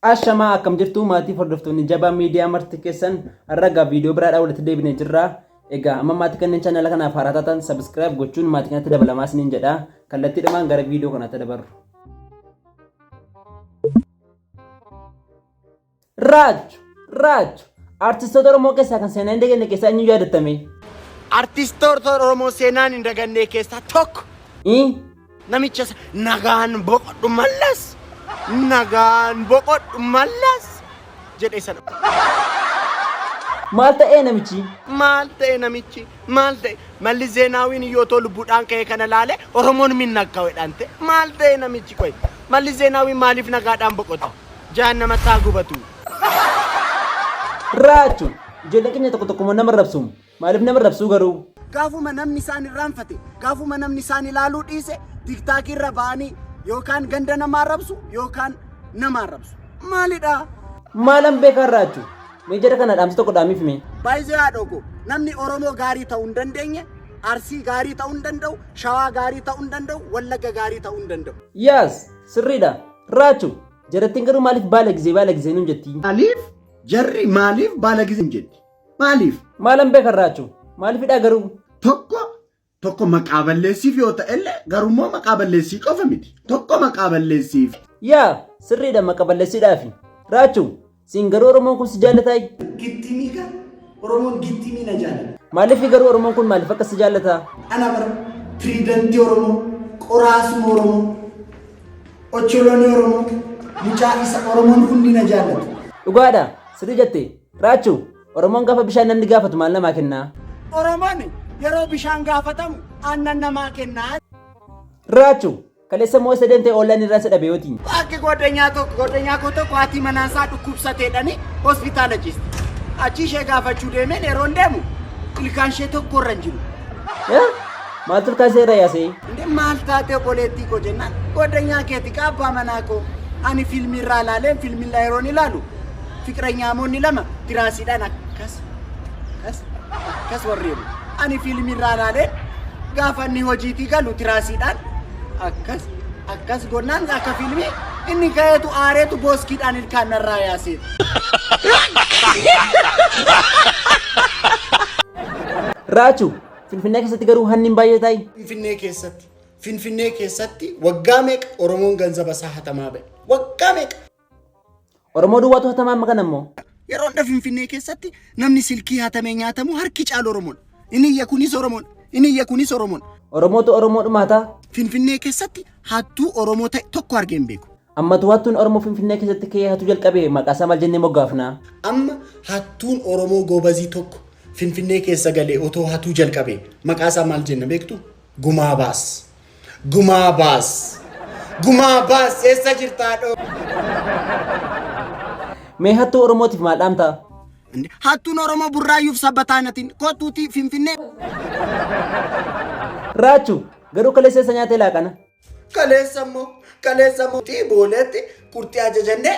Ashamaa akkam jirtu maatii hordoftoonni jabaa miidiyaa marti keessan ragaa viidiyoo biraadhaa walitti deebinee jirra. Egaa amma maatii kanneen chaanala kanaaf haaraa taatan sabiskiraayib gochuun maatii kanatti dabalamaa isiniin jedha. Kallattiidhumaan gara viidiyoo kanaatti dabarru. Raachu! Raachu! Artistoota Oromoo keessaa kan seenaa hin daganne keessaa eenyu yaadattame? Artistoota Oromoo seenaan hin dagannee keessaa tokko. Ii? Namicha sa- nagaan boqodhu mallas. Nagaan boqodhu mallas. Jedhe sana. Maal ta'ee namichi? Maal ta'e namichi? Maal ta'e? Malli Zeenaawiin yoo too lubbuudhaan ka'ee kana laale Oromoon minnakkaawedhaan ta'e. Maal ta'e namichi qoy? Mallis Zeenaawwiin maaliif nagaadhaan boqota? Jahannamatti haa gubatu! Raachu! Ijoolleen keenya tokko tokko immoo nama arrabsu. Maaliif nama arrabsuu garuu? Gaafuma namni isaan irraanfate, gaafuma namni isaan ilaaluu dhiise, tiktaakii irra ba'anii yookaan ganda nama arrabsu yookaan nama arrabsu. Maalidha? Maalan beekaan raachu? Mee jara kana dhaamsa tokko dhaamiif mee. Baay'ee haadhoo koo namni Oromoo gaarii ta'uu hin dandeenye Arsii gaarii ta'uu hin danda'u, Shawaa gaarii ta'uu hin danda'u, Wallagga gaarii ta'uu hin danda'u. Yes! Sirriidha! Raachu! Jarattiin garuu maaliif baalagizee baalagizee nuun jettii? Maaliif jarri maaliif baalagizee hin jetti? Maaliif? Maalan beekan Raachu? Maaliifidhaa garuu? Tokko Tokko maqaa balleessiif yoo ta'ellee garummoo maqaa balleessii qofa miti. Tokko maqaa balleessiif. Yaa sirriidha maqa balleessiidhaafi. Raachuu siin garuu Oromoon kun si jaallataa? Gittimii kan Oromoon gittimii na jaallata. Maaliif garuu Oromoon kun maaliif akka si jaallataa? Ana bara piriidantii Oromoo, qoraasuma Oromoo, ocholoonii Oromoo, mucaa isa Oromoon hundi na jaallata. Dhugaadha sirrii jette. Raachuu Oromoon gaafa bishaan namni gaafatu maal namaa kennaa? Oromoon yeroo bishaan gaafatamu aannan namaa kennaa. Raachu, kaleessa moo isa deemtee oollaan irraa isa dhabe yootiin? Akka goddanyaa tokko goddanyaa koo tokko haati manaan isaa dhukkubsateedhani hospitaala ciiste. Achii ishee gaafachuu deemeen yeroo hin deemu ilkaan ishee tokko irra hin jiru. Eh? Maal turkaa seera yaasee? Inni maal taatee obboleettii koo jennaan goddanyaa keeti qaabbaa manaa koo ani fiilmii irraa ilaaleen fiilmii irraa yeroon ilaalu Fiqiranyaamoonni lama tiraasiidhaan akkas akkas akkas warreeru. Ani fiilmii irraa ilaaleen gaafa inni hojiitii galu tiraasiidhaan akkas akkas gonnaan akka fiilmii inni ka'eetu aareetu booskiidhaan ilkaan narraa yaaseetu. Raachu, Finfinnee keessatti garuu hanni hin baay'ee taa'i. Finfinnee keessatti Finfinnee keessatti waggaa meeqa Oromoon ganzaba isaa hatamaa ba'e? Waggaa meeqa? Oromoo duwwaatu hatamaa amma kana immoo. Yeroo hunda Finfinnee keessatti namni silkii hatamee nyaatamu harki caalu Oromoon. Inni iyya kunis Oromoon. Inni iyya kunis Oromoon. Oromootu Oromoo dhumaata. Finfinnee keessatti hattuu Oromoo ta'e tokko argee hin beeku. Ammatu hattuun Oromoo Finfinnee keessatti ka'ee hatuu jalqabe maqaa isaa maal jennee moggaafna? Amma hattuun Oromoo goobazii tokko Finfinnee keessa galee otoo hatuu jalqabe maqaa isaa maal jenna beektu? Gumaa baas. Gumaa baas. Gumaa baas eessa jirta haadhoo? Mee hattuu Oromootiif maal dhaamta? Inde, Hattuun Oromoo burraayyuuf sabbataa natiin kottuutii finfinnee. Raachu garuu kaleessa eessa nyaatee laaqana? Kaleessa immoo kaleessa immoo tii booleetti kurtii ajajannee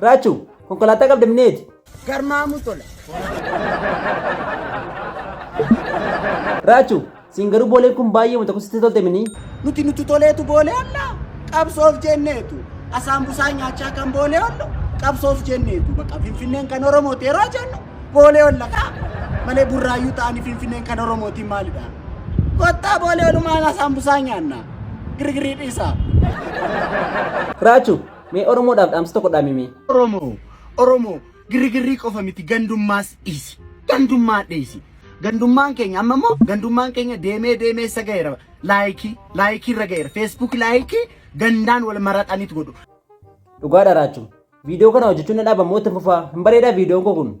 Raachu, konkolaataa qabda mineeti. Garmaamuu tola. Raachu, siin garuu booleen kun baay'ee wanta kusitti tolte minii. Nuti nuti toleetu boolee ollaa qabsoof jenneetu asaan busaan nyaachaa kan boolee ollu qabsoof jenneetu baqa finfinneen kan oromooti yeroo jennu boolee olla kaa malee burraayyuu ta'anii finfinneen kan oromootiin maalidha kottaa boolee olumaan asaan busaan nyaanna girgirii dhiisaa. Raachu, Mee Oromoodhaaf dhaamsa tokko dhaami mee. Oromoo Oromoo girrigirrii qofa miti gandummaas dhiisi. Gandummaa dhiisi. Gandummaan keenya amma immoo gandummaan keenya deemee deemee isa ga'eera. Laayikii laayikii irra ga'eera. Feesbuuk laayikii gandaan wal maraxaniit godhu. Dhugaa dharaachuu. Viidiyoo kana hojjechuun na dhaaba moo itti fufaa? Hin bareedaa viidiyoon koo kun.